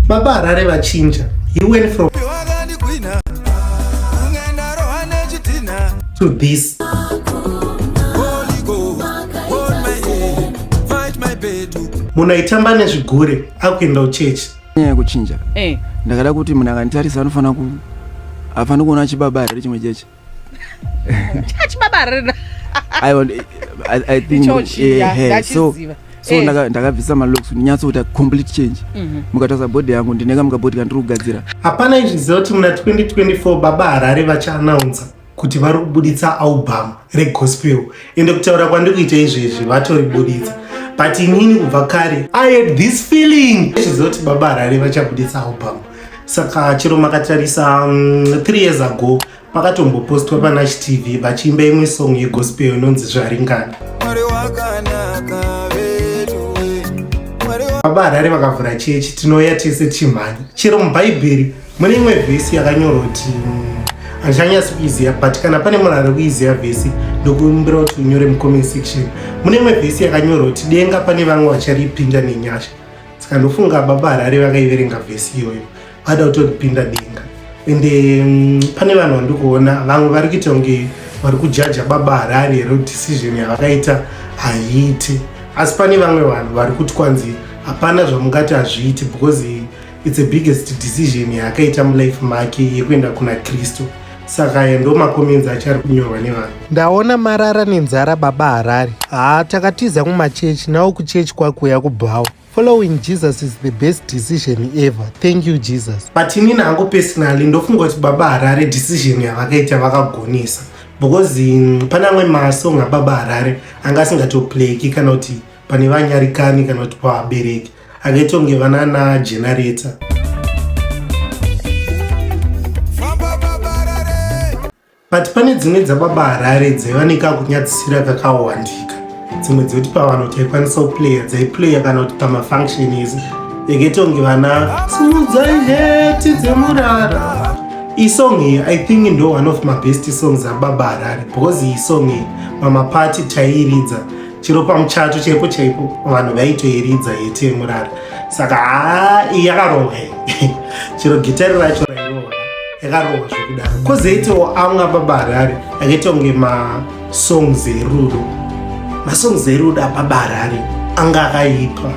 Baba Harare vachinja. He went from to this. munhu aitamba nezvigure akuenda kuchechi nyaya yekuchinja eh. ndakada kuti munhu akanditarisa anofanira ku hafaniri kuona chibaba here chimwe cheche chachibabarira aiwa eh, i, I think Ichochi, eh, yeah, eh, so ndachiziva. so Eh. ndaka- ndakabvisa malocks kuti nyatsoita complete change Mhm. mukatarisa body yangu ndine kamwe kabody kandiri kugadzira hapana izviziva kuti muna 2024 baba harare vachaanaunza kuti vari kubuditsa album regospel ende kutaura kwandiri kuita izvezvi vatoribuditsa but inini kubva kare i had this feeling izviziva kuti baba harare vachabuditsa album saka chero makatarisa um, three years ago pakatombopostwa panash tv vachiimba imwe song yegospel inonzi zvaringana baba harare vakavhura chechi tinouya tese tichimhanya chero mubhaibheri mune imwe vhesi yakanyorwa kuti handichanyasi kuiziva but kana pane munhu ari kuiziva vhesi ndokumbira kuti unyore mucomment section mune imwe vhesi yakanyorwa kuti denga pane vamwe vacharipinda nenyasha saka ndofunga baba harare vakaiverenga vhesi iyoyo vada kutopinda denga ende mm, pane vanhu vandi kuona vamwe vari kuita kunge vari kujaja baba harare here decision yavakaita haiiti asi pane vamwe vanhu vari kuti kwanzi hapana zvamungati hazviiti because its a biggest decision yaakaita mulife make yekuenda kuna kristu saka ayo ndo makomenzi acho ari kunyorwa nevanhu ndaona marara nenzara baba harari haa takatiza kumachechi nawo kuchechi kwakuuya kubhawa following jesus is the best decision ever thank you jesus but inini hangu personally ndofunga kuti baba harare decision yavakaita vakagonesa because mm, pane amwe masong ababa harare anga asingatoplayki kana kuti pane vanyarikani kana kuti pavabereki akaita kunge vana na generator but pane dzimwe dzababa harare dzaiva nekakunyadzisira kakawandika dzimwe dzekuti pavanhu taikwanisa kuplaya dzaiplaya kana kuti pamafunction izi yakaita kunge vana simudzai heti dzemurara isong iyi i think ndo one of my best songs ababa harare because iyi song iyi mamapati taiiridza chero pamuchato chaipo chaipo vanhu vaitoiridza yete yemurara saka haa iyi yakarohwa chero gitari racho rairohwa yakarohwa zvekudaro kozoitawo amwe ababa harare akaita kunge masongs erudo masongs erudo ababa harare anga akaipa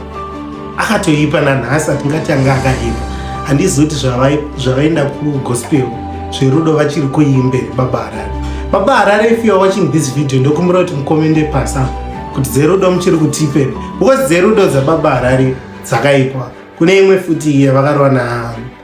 akatoipa nanhasi atingati anga akaipa handizoti zvavaenda kugospel zverudo vachiri kuimbe baba harare baba harare if youare watching this video ndokumbira kuti mukomende pasa kuti dzerudo muchiri kutipe because dzerudo dzababa harare dzakaipa kune imwe futi iye vakarwa na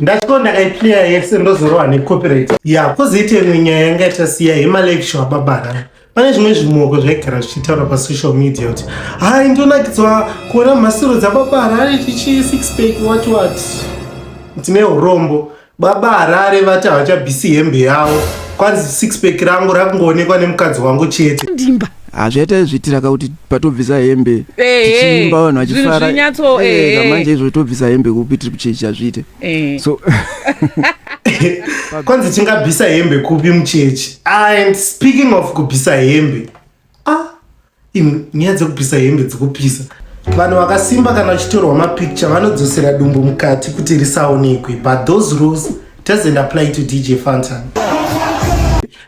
ndachiko ndakaiplaya yese ndozorowa necopyright ya kozoita imwe nyaya yanga yatasiya yemalekisho ababara pane zvimwe zvimoko zvaigara zvichitaura pasocial media kuti hai ndonakidzwa kuona mhasiro dzababara ari chichi six pack what what ndine urombo Baba Harare vati havachabvisi hembe yavo kwanzi six pack rangu rakungoonekwa nemukadzi wangu chete. Ndimba. hazvaita ah, izvitira ka kuti patobvisa hembe eh, eh, tichiimba vanhu vachifara eh, ka manje izvo tobvisa hembe kupi tiri kuchechi hazviite so kwanzi tingabvisa hembe kupi muchechi and speaking of kubvisa hembe ah Imwe nyaya dzekupisa hembe dzekupisa. Vanhu vakasimba kana vachitorwa mapicture vanodzosera dumbu mukati kuti risaonekwe but those rules doesn't apply to DJ Fantan.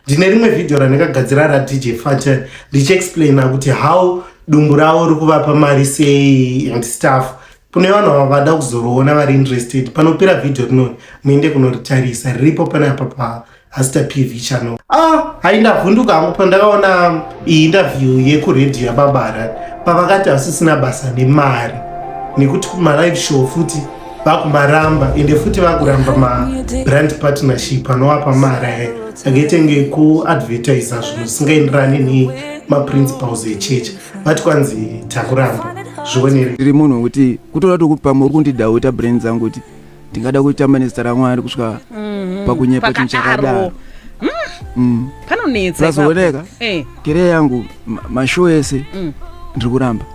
Ndine rimwe video randakagadzira ra DJ Fantan ndichiexplaina kuti how dumbu ravo rikuvapa mari sei and stuff. Kune vanhu vavada kuzoriona vari interested panopera video rinori muende kunoritarisa riripo pane apa pa hazita pv channel ah hai ndavhunduka hangu pandakaona iyi interview yekuredio yababara pavakati hasisina basa nemari nekuti kumalive show futi vakumaramba ende futi vakuramba mabrand partnership anovapa mari aya angetenge kuadvertisa zvinhu zvisingaenderani nemaprinciples echurch vati kwanzi takuramba zvionere ndiri munhu wekuti kutoda tokuti pamwe uri kundidauta brand dzangu kuti ndingada kutamba nezita ramwari kusvika mm-hmm. pakunyepa chinhu chakadaro mm. mm. panonetsa zvazooneka eh. kere yangu mashow ese mm. ndiri kuramba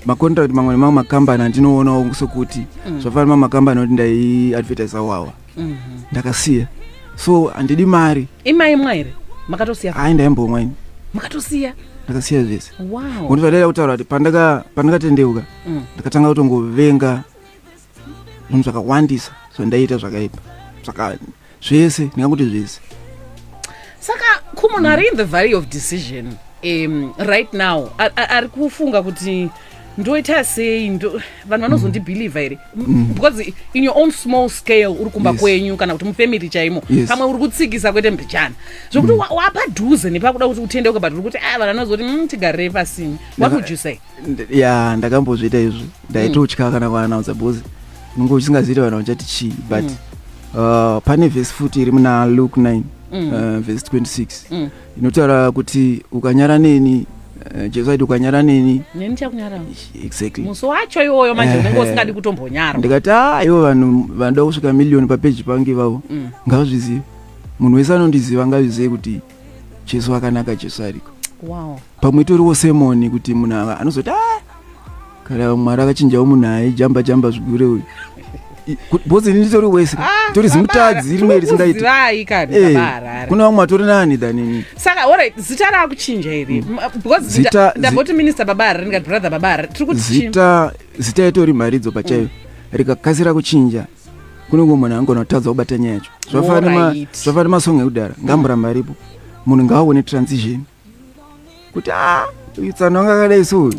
macontract mamwe nemamwe makambani andinoonawo sokuti mm. zvafana mamwe makambani oti ndaiadvertisa wawa mm-hmm. ndakasiya so handidi mari imaimwa here makatosiya hai ndaimbomwa ini makatosiya ndakasiya zvese wow. kuti vadaida kutaura kuti pandakatendeuka mm. ndakatanga kutongovenga munhu zvakawandisa zvandaiita zvakaipa saka zvese ndingakuti zvese saka kumunhu ari in the valley of decision um, right now ari kufunga kuti ndoita sei vanhu vanozondibhilivha here mm. because in your own small scale uri kumba kwenyu kana kuti mufamily chaimo pamwe uri kutsikisa kwete mbichana zvokuti mm. wapadhuze nepakuda kuti utendeuke but uri kuti a ah, vanhu vanozoti mm, tigarei pasini what would you say ya ndakambozviita izvi ndaitotya mm. kana kuanaunsa because unenge uchisingazivi kuti vanhu vachati chii but mm. uh, pane vhesi futi iri muna luke 9 mm. uh, vhesi 26 mm. inotaura kuti ukanyara neni uh, jesu aiti ukanyara neni neni chakunyara exactly musi wacho iwoyo manje eh, unenge usingadi kutombonyara ndikati a ah, ivo vanhu vanoda kusvika miliyoni papeji pangu ivavo mm. ngavazvizive munhu wese anondiziva ngazvizive kuti jesu akanaka jesu ariko wow. pamwe itoriwo semoni kuti munhu ava anozoti a ah, kana mwari akachinjawo munhu aijamba jamba zvigure uyu bhozi ini nditori wese ah, tori zimutadzi rimwe risingaiti eh, kuna vamwe atori nani than ini saka ora zita raakuchinja iri mm. bcausedamboti minista baba hari ndikati brother baba hari tiri kuti zita zita itori mharidzo pachayo mm. rikakasira kuchinja kunenge munhu angona kutadza kubata nyaya yacho zvafana nemasong ekudhara ngamboramba aripo munhu ngaaone transition kuti a utsana wanga akadai so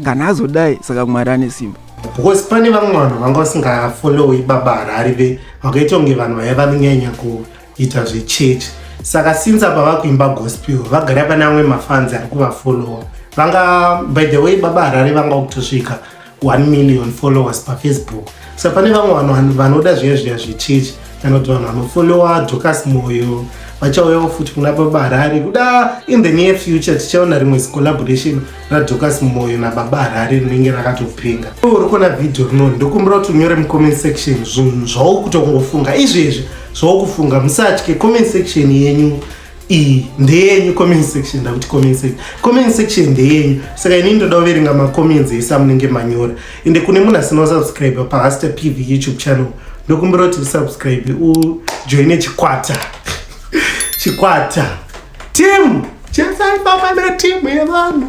kana azodai saka mwari ane simba because pane vamwe vanhu vanga vasingafollowi baba harari ve vakaita kunge vanhu vaya vanonyanya kuita zvechechi saka since apa vakuimba gospel vagara pane amwe mafanzi ari kuvafollowa vanga by the way baba harari vanga kutosvika 1 million followers pafacebook sa pane vamwe vanhu vanoda zviya zviya zvechechi kana kuti vanhu vanofollowa docas moyo vachauyawo futi kuna baba harare kuda in the near future tichaona rimwe zicollaboration radocas moyo nababa harare rinenge rakatopenga uri kuona vhidhiyo rino ndokumbira kuti unyore mucomment section zvinhu zvaukutongofunga izvezvi zvaukufunga musatye comment section yenyu iyi ndeyenyu comment section ndakuti comment section comment section ndeyenyu saka ini ndoda kuverenga macomments ese amunenge manyora ende kune munhu asina kusubscribe pahaster pv youtube channel ndokumbira kuti usubscribe ujoine chikwata chikwata timu chesaipamana timu yevanhu